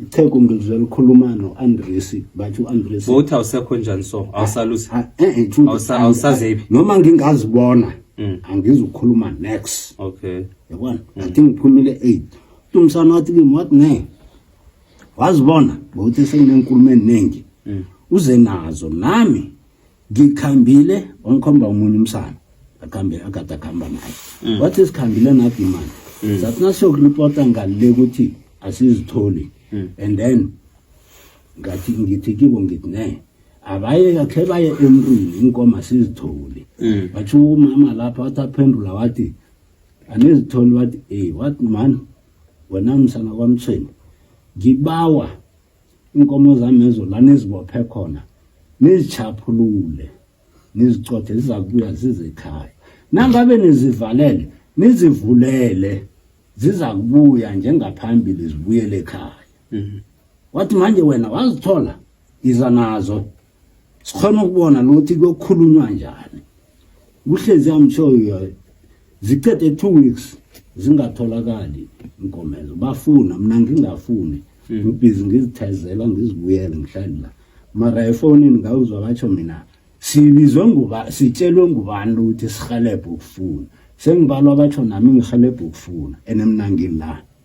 ichegu ngizwe likhuluma no-andresi bathi u-andresi bowuthi awusekho njani so awusalusi ah, ah, eh, eh, awusazephi noma ngingazibona mm. angizukhuluma next okay yabona mm. athi ngiphumile eight tumsana wathi kimi wathi ne wazibona bowuthi senginenkulumo eningi mm. uze nazo nami ngikhambile wangikhomba umunye umsana akhambe akade akhamba naye mm. wathi sikhambile nathi mani mm. sathi nasiyokuripota ngalile ukuthi asizitholi mm. and then ngathi ngithi kibo ngithi ne abaye kakhe baye emntwini inkomo asizitholi wathi umama lapha wathi aphendula wathi anizitholi wathi ey wathi mani wena msana kwamthweni ngibawa inkomo zami ezo la nizibophe khona nizichaphulule nizicothe ziza kubuya zize ekhaya nangabe nizivalele nizivulele ziza kubuya njengaphambili zibuyele ekhaya mm-hmm. wathi manje wena wazithola iza nazo sikhona ukubona nokuthi kuyokhulunywa njani kuhlezi i'm sure you are zicede two weeks zingatholakali inkomezo bafuna mina ngingafuni hmm. ngibhizi ngizithezela ngizibuyele ngihlali la mara efonini ngawuzwa batsho mina sibizwe nguba sitshelwe ngubani ukuthi sihelebhe ukufuna sengibalwa batsho nami ngihelebhe ukufuna and mina ngilana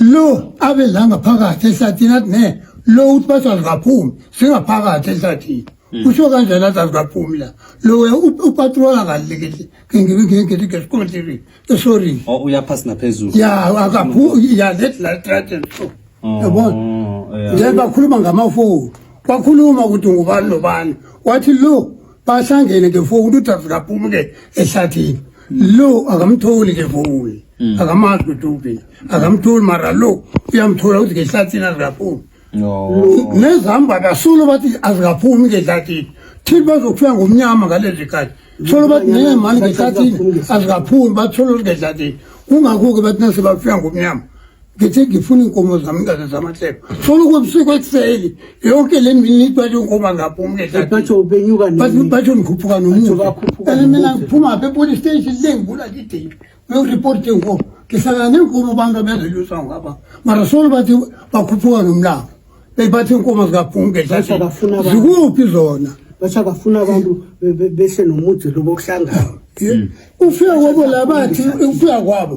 lo abe la ngaphakathi ehlathini athi ne lo uthi bathi azikaphumi singaphakathi ehlathini hmm. usho kanjani athi azikaphumi la lo upatrola ngalikithi ngesikondiri esorini o oh, uyaphasi naphezulu ya akaphumi ya let la traten so oh, yabona njengoba khuluma ngamafoni wakhuluma ukuthi ngubani nobani wathi lo bahlangene ke fowuni udavid aphumuke ehlathini lo akamtholi ke fowuni hmm. akamazi ukuthi uphi akamtholi mara lo uyamthola ukuthi ngehlathini azikaphumi nezihamba kasulo bathi azikaphumi ngehlathini thini bazokufika ngomnyama ngalezi khathi tholo bathi ngeke mani ngehlathini azikaphumi batholo ngehlathini kungakho-ke bathi nase bafika ngomnyama ngithi ngifuna iy'nkomo zami ngaze zamahlelo funa ukwebusuku ekuseni yonke le mini itwale inkoba ngapho umlebathi ngikhuphuka nomuani mina ngiphuma pha epolice station le ngibula lideli uyokuripota inkomo ngihlala nenkomo abantu abezelusa ngapha mara solo bathi bakhuphuka nomlabo beyibathi inkomo zikaphumkezikuphi zona basha bafuna abantu behle nomuthi lobo kuhlangana ufika kwabo labathi ufika kwabo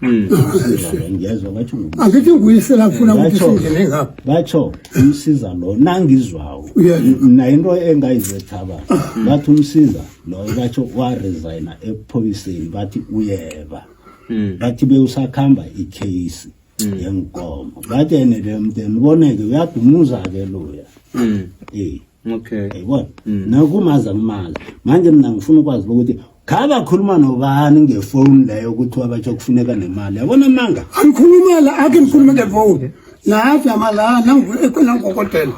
Hmm. angithi nguyisela ngifuna ukuthi singene ngapha batsho umsiza lo nangizwawo mna into engayizethaba bathi umsiza loyo batsho waresigna epholiseni bathi uyeba hmm. bathi bewusakuhamba ikheyisi hmm. yenkomo bathi ene le mnteni boneke uyadumuza-ke loya um okay yayibona nakumazi angimazi manje mna ngifuna ukwazi ukuthi Khabe akhuluma nobani ngefoni leyo ukuthi wabatsho kufuneka nemali. Yabona amanga. Angikhuluma la ake ngikhulume ngefoni. Nathi amala nangikhona ngokotela.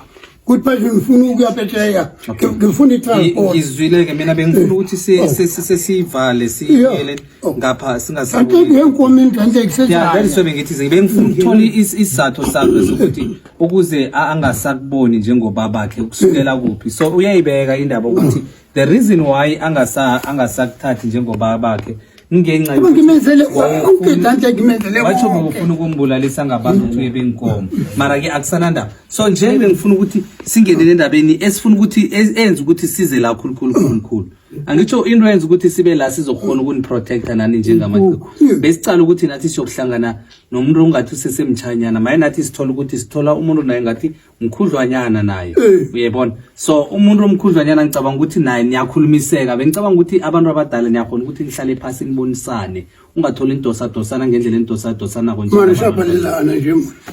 Kuthi phezulu ngifuna ukuya Peteya. Ngifuna i-transport. Ngizwile ke mina bengifuna ukuthi si- Oh. si- si- sesivale siyele Oh. ngapha Kanti singasabuyi. ngiyenkomo into enhle Yeah, that is kusezayo. why bengithi nje bengifuna ukuthola is- isizathu sakhe sokuthi ukuze a- angasakuboni njengobabakhe ukusukela kuphi. So uyayibeka indaba ukuthi the reason why angasa angasakuthathi njengobaba bakhe ngenxa yokuthi ngimenzele ukudlanja ngimenzele watsho ngifuna ukumbulalisa ngabantu ukuthi uye benkomo mara ke akusanandaba so njengoba ngifuna ukuthi singenele endabeni esifuna ukuthi enze ukuthi size la khulukhulu khulukhulu angitsho into yenza ukuthi sibe la sizokhona ukuniprotecta nani njengamaqhegu besicala ukuthi nathi siyokuhlangana nomuntu ongathi usesemtshanyana maye nathi sithola ukuthi sithola umuntu naye ngathi mkhudlwanyana naye eh. uyebona so umuntu omkhudlwanyana ngicabanga ukuthi naye niyakhulumiseka bengicabanga ukuthi abantu abadala niyakhona ukuthi nihlale phasi nibonisane ungatholi indosadosana ngendlela endosadosanako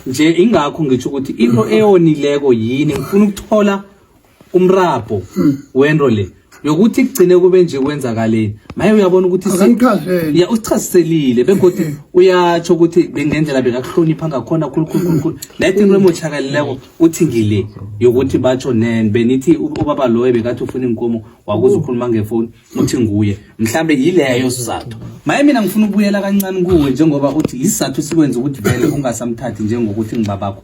nje ingakho ngitsho ukuthi into eyonileko yini ngifuna ukuthola umrabho hmm. wento le yokuthi kugcine kube nje kwenzakaleni maye uyabona ukuthi ya usichaziselile begodwa hmm. uyatsho ukuthi bengendlela bekakuhlonipha ngakhona khulukhulukhulu naye tinto emotshakalileko uthi ngile yokuthi batsho nen benithi ubaba loyo bekathi ufuna inkomo wakuze ukhuluma ngefoni uthi nguye mhlambe yileyo sizathu maye mina ngifuna ukubuyela kancane kuwe njengoba uthi yisizathu sikwenza ukuthi vele ungasamthathi njengokuthi ngibabakho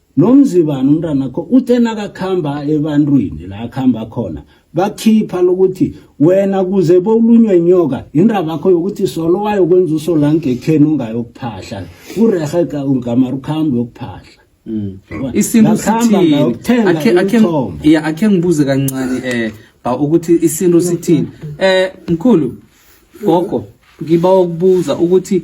nomzibani umntanakho uthe nakakhamba ebantwini la akhamba khona bakhipha lokuthi wena kuze bowulunywe nyoka indaba yakho yokuthi solo wayokwenza usolangekheni ungayokuphahla kurehe ungamara ukhambi yokuphahla mm. isintu sithini akhe ngibuze kancane um ba ukuthi isintu sithini um mkhulu gogo ngiba ukubuza ukuthi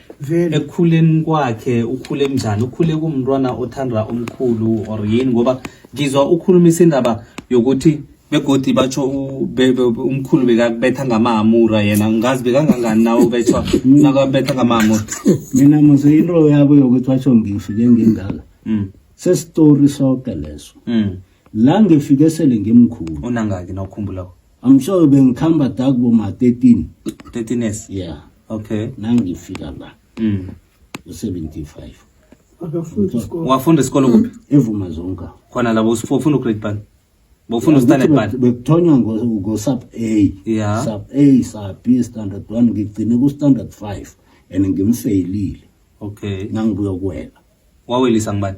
vele ekukhuleni kwakhe ukhule kunjani ukhule kumntwana othanda umkhulu or yini ngoba ngizwa ukhulumisa indaba yokuthi begodi batsho u- be- be- umkhulu bekakubetha ngamamura yena ngazi bekangangani nawe ubethwa nakabetha ngamamura mina mose into yabo yokuthi basho ngifike ngingaka Mm, sesitori soke leso mm. la ngifike sele ngimkhulu unangaki nawukhumbulako I'm sure bengikhamba da kubo ma 13 13 years yeah okay nangifika la mm u75 akafunda isikole wafunda isikole kuphi evuma zonka khona labo usifunda ugrade bani bofuna ustanard bani bekuthonywa ngo sub A yeah sub A sub B standard 1 ngigcine ku standard 5 and ngimfailile okay nangibuya kuwela wawelisa ngibani